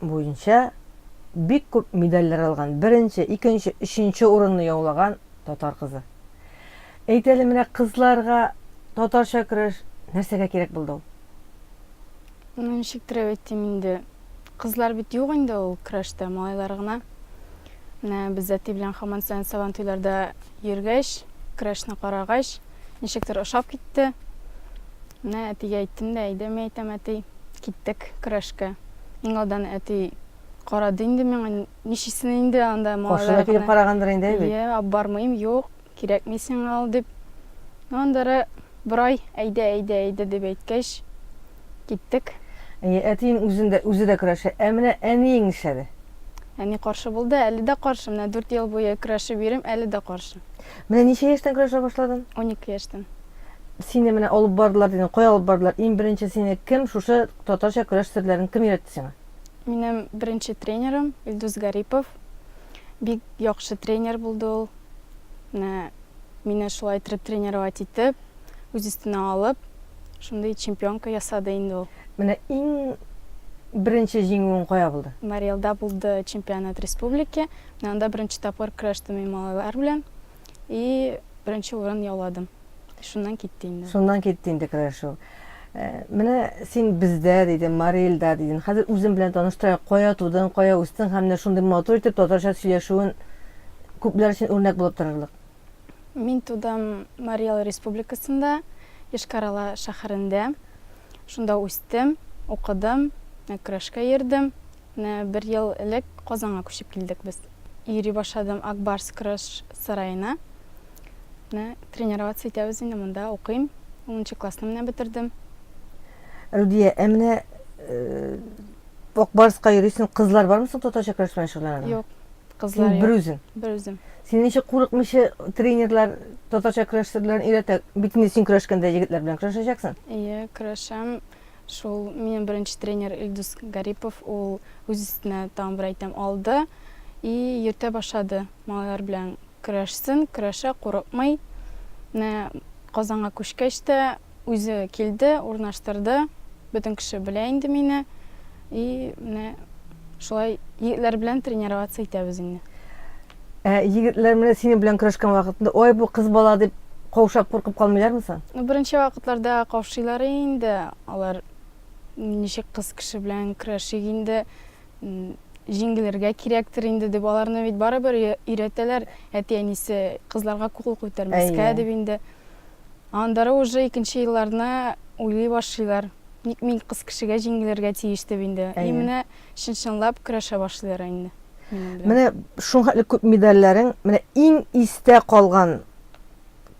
буенча бик күп медальләр алган, беренче, икенче, өченче урынны яулаган татар кызы. Әйт әле, менә кызларга татарча көрәш нәрсәгә кирәк булды ул? Ну, ничектер әйтим инде. Кызлар бит юк инде ул көрәштә, малайлар гына. Менә без әти белән хаман саен сабан туйларда йөргәч, көрәшне карагач, Ничектер ошап китте. Менә әтигә әйттем дә, әйдә, мин әйтәм, әти, киттек көрәшкә. Иң алдан әти карады инде миңа, ничисен инде анда малайлар гына. Каршына килеп карагандыр инде, әйбит. Йә, апбармыйм, юк, кирәкми сиңа ул, дип. Аннары бер ай, әйдә, әйдә, әйдә, дип әйткәч, киттек. Әйе, әтиең үзен дә, үзе дә көрәшә. Ә менә әниең нишләде? Әни каршы булды, әле дә каршы. Менә дүрт ел буе көрәшеп йөрим, әле дә каршы. Менә ничә яшьтән көрәшә башладың? Унике яшьтән. Сине менә алып бардылар дидең, кая алып бардылар? Иң беренче сине кем шушы татарча көрәш серләрен кем өйрәтте сиңа? Минем беренче тренерым Илдус Гарипов. Бик яхшы тренер булды ул. Менә мине шулай иттереп тренировать итеп, үз өстенә алып, шундый чемпионка ясады инде ул. Менә иң беренче җиңүең кая булды? Марий Элда булды чемпионат республики. Мин анда беренче тапкыр көрәштем мин малайлар белән и беренче урын яуладым. Шуннан китте инде. Шуннан китте инде көрәшү. Э, менә син бездә дидең, Мари Илда дидең. Хәзер үзең белән таныштырайк, кая тудың, кая үстең һәм менә шундый матур итеп татарча сөйләшүен күпләр өчен үрнәк булып торырлык. Мин тудым Мари Эл республикасында, Йошкар-Ола шәһәрендә. Шунда үстем, укыдым, көрәшкә йөрдем. Менә бер ел элек Казанга күчеп килдек без. Йөри башладым Ак Барс көрәш сараена. Менә тренироваться итәбез инде, монда укыйм. Унынчы классны менә бетердем. Рудия, ә менә Ак Барска йөрисең, кызлар бармы соң татарча көрәш белән шөгыльләнәдә? Юк, кызлар юк. Син бер үзең? Бер үзем. Сине ничек курыкмыйча тренерлар татарча көрәш серләрен өйрәтә? Бит инде син көрәшкәндә егетләр белән көрәшәчәксең? Ие, көрәшәм. Шул минем беренче тренер Илдус Гарипов, ул үз өстенә тагын бер әйтәм алды и йөртә башлады. Малайлар белән көрәшсен, көрәшә, курыкмый. Менә Казанга күчкәч тә үзе килде, урнаштырды. Бөтен кеше белә инде мине. И менә шулай егетләр белән тренироваться итәбез инде. Ә егетләр менә синең белән көрәшкән вакытында, ой, бу кыз бала дип каушап куркып калмыйлармы соң? Беренче вакытларда каушыйлар инде, алар ничек кыз кеше белән көрәшик инде, җиңелергә кирәктер инде дип, аларны бит барыбер өйрәтәләр әти-әнисе, кызларга кул күтәрмәскә дип инде. Аннары уже икенче елларны уйлый башлыйлар, ник мин кыз кешегә җиңелергә тиеш дип инде. И менә чын-чынлап көрәшә башлыйлар инде. Менә шуңхәтле күп медальләрең, менә иң истә калган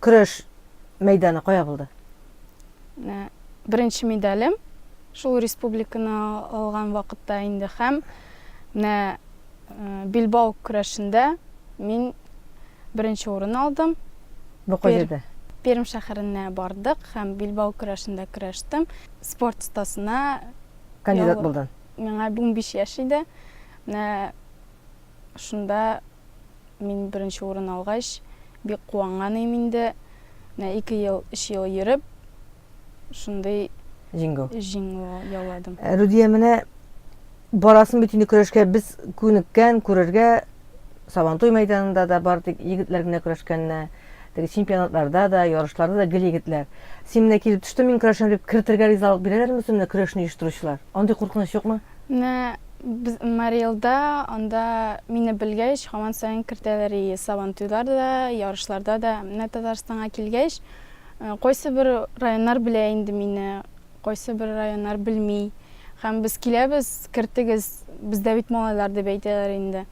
көрәш мәйданы кая булды? Беренче медалем шул республиканы алган вакытта инде һәм менә Билбау көрәшендә мин беренче урын алдым. Бу кайда? Пермь шәһәренә бардык һәм Билбау көрәшендә көрәштем. Спорт стасына кандидат булдың. Миңа унбиш яшь иде. Менә шунда мин беренче урын алгач, бик куанган ием инде. Менә ике ел, өч ел йөреп, шундый Җиңү. җиңү яуладым. Рудия, менә барасың бит инде көрәшкә. Без күнеккән, күрергә Сабантуй мәйданында да бары тик егетләр генә көрәшкәнне. Теге чемпионатларда да, ярышларда да гел егетләр. Син менә килеп төштең, мин көрәшәм дип, кертергә ризалык бирәләрме үзен менә көрәшне оештыручылар? Андый куркыныч юкмы? Менә без Мариэлда, анда мине белгәч, һаман саен кертәләр и Сабантуйларда да, ярышларда да. Менә Татарстанга килгәч, кайсы бер районнар белә инде мине, кайсы бер районнар белми. Һәм без киләбез, кертегез, бездә бит малайлар дип әйтәләр инде.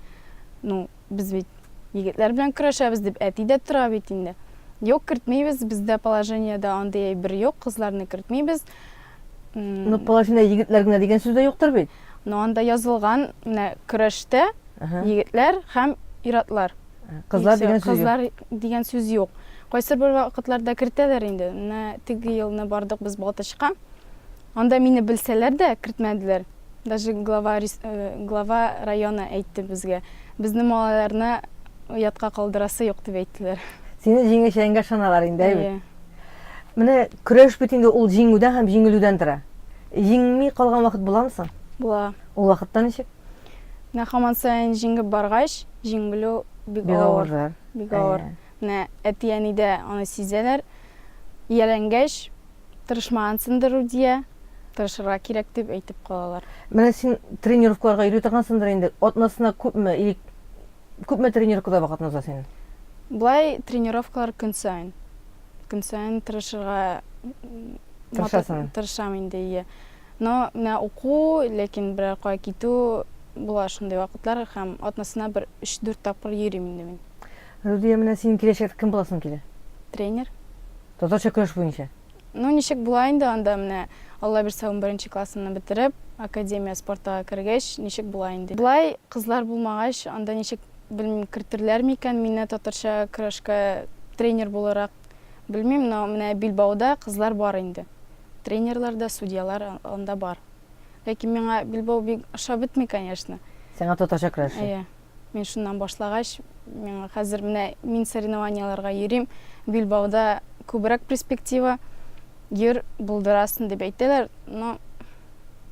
Ну, Без бит егетләр белән көрәшәбез, дип әти дә тора бит инде. Юк, кертмибез, бездә положениедә андый әйбер юк, кызларны кертмибез. Ну, положение егетләр генә дигән сүз дә юктыр бит. Ну, анда язылган, менә көрәштә егетләр һәм ир-атлар. Кызлар дигән сүз юк. Кызлар дигән сүз юк. Кайсы бер вакытларда кертәләр инде. Менә теге елны бардык без Балтачка. Анда мине белсәләр дә кертмәделәр. Даже глава глава района әйтте безгә, безне малайларны оятка калдырасы юк дип әйттеләр. Сине җиңәчәгеңгә ышаналар инде, әйе бит? Менә көрәш бит инде ул җиңүдән һәм җиңелүдән тора. Җиңми калган вакыт буламы соң? Була. Ул вакытта ничек? Менә хаман саен җиңеп баргач, җиңелү бик авыр. Бик авыр. Менә әти-әни дә аны сизәләр. Ияләнгәч, Тырышмагансындыр Рудия, тырышырга кирәк дип әйтеп калалар. Менә син тренировкаларга йөри торгансындыр инде, атнасына күпме или күпме тренировкада вакытны уза синең? Болай тренировкалар көн саен. Көн саен тырышырга Тырышасың. Тырышам инде, ие. Но менә уку, ләкин берәр кая китү була шундый вакытлар һәм атнасына бер 3-4 тапкыр йөрим инде мин. Рудия, менә синең киләчәктә кем буласың килә? Тренер. Татарча көрәш буенча. Ну, ничек була инде анда менә, Алла бирсә, унберенче классымны бетереп, академия спортага кергәч, ничек була инде. Болай кызлар булмагач, анда ничек, белмим, кертерләр микән мине татарча көрәшкә тренер буларак, белмим, но менә Билбауда кызлар бар инде. Тренерлар да, судьялар анда бар. Ләкин миңа Билбау бик ошап бетми, конечно. Сиңа татарча көрәше. Әйе. Мин шуннан башлагач, миңа хәзер менә мин соревнованиеләргә йөрим, Билбауда күбрәк перспектива, йөр, булдырасың дип әйтәләр, но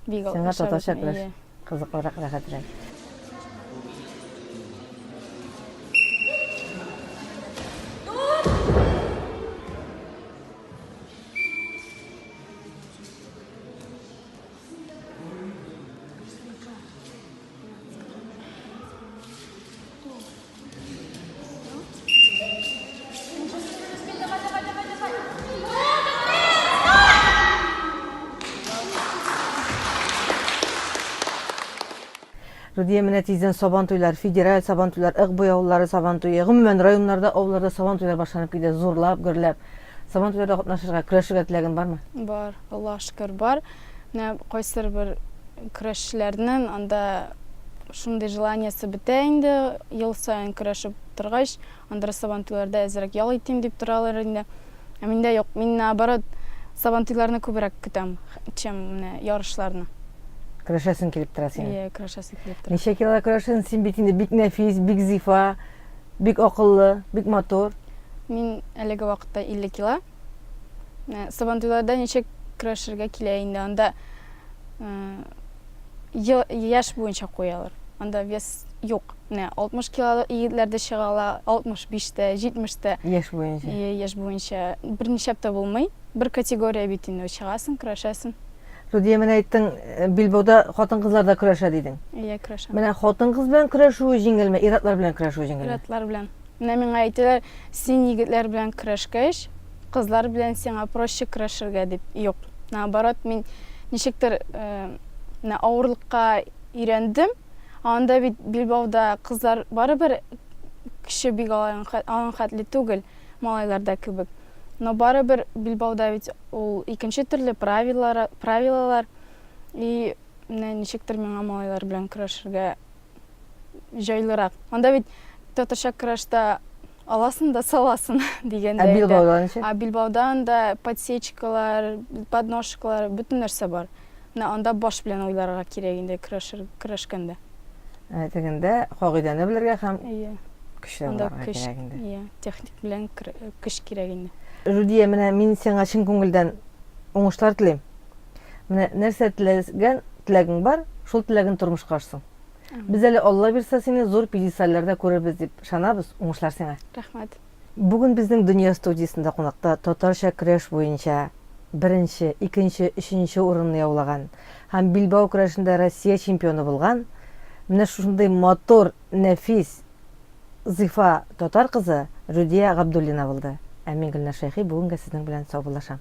бик алып Сиңа татарча көрәш кызыклырак, рәхәтрәк. Рудия менә тиздән сабантуйлар, федераль сабантуйлар, ык буяулары сабантуе, гомумән районнарда, авылларда сабантуйлар башланып китә, зурлап, гөрләп. Сабан туйларда катнашырга, көрәшергә теләгең бармы? Бар, Аллаһ шөкер, бар. Менә кайсыр бер көрәшчеләрнең анда шундый желаниясе бетә инде, ел саен көрәшеп торгач, андыр сабан туйларда әзрәк ял итим дип торалар инде. Ә миндә юк, мин наоборот, сабан туйларны күбрәк көтәм, чем менә ярышларны. Көрәшәсең килеп тора синең. Ие, көрәшәсең килеп тора. Ничә килога көрәшәсең? Син бит инде бик нәфис, бик зифа, бик акыллы, бик матур. Мин әлеге вакытта 50 кило. Ә, Сабантуйларда ничек көрәшергә килә инде? Анда ә, ел- яшь буенча куялар. Анда вес юк. Менә 60 килолы егетләр дә чыга ала, 65 тә, 70 тә. Яшь буенча. Е, Яшь буенча берничә апта булмый. Бер категория бит инде, чыгасың, көрәшәсең. Рудия, менә әйттең, э, билбауда хатын-кызлар да көрәшә дидең. Иә, көрәшәм. Менә хатын-кыз белән көрәшү җиңелме, ир-атлар белән көрәшү җиңелме? Ир-атлар белән. Менә миңа әйтәләр, син егетләр белән көрәшкәч, кызлар белән сиңа проще көрәшергә дип. Юк, наоборот, мин ничектер менә авырлыкка өйрәндем. Анда бит билбауда кызлар барыбер көче бик алган хәтле түгел, малайларда кебек. Но барыбер билбауда бит ул икенче төрле правилар, правилалар. И менә ничектер миңа малайлар белән көрәшергә җайлырак. Анда бит татарча крашта аласың да саласың дигәндә. Ә билбаудан ничек? Ә билбаудан да подсечкалар, подножкалар, бөтен нәрсә бар. Менә анда баш белән уйларга кирәк инде крашер крашканда. Ә тегендә кагыйдәне белергә һәм Әйе. Көчле буларга кирәк инде. Әйе, техник белән көч кирәк инде. Рудия, менә мин сиңа чын күңелдән уңышлар телим. Менә нәрсә теләгән теләгең бар, шул теләген тормышка ашсын. Без әле Алла бирса сине зур пьедестальләрдә күрербез дип ышанабыз, уңышлар сиңа. Рәхмәт. Бүген безнең Дөнья студиясендә кунакта татарча көрәш буенча беренче, икенче, өченче урынны яулаган һәм билбау көрәшендә Россия чемпионы булган, менә шушындый матур, нәфис, зифа татар кызы Рүдия Габдуллина булды. Ә мин, Гөлнар Шәйхи, бүген гә сезнең белән саубуллашам.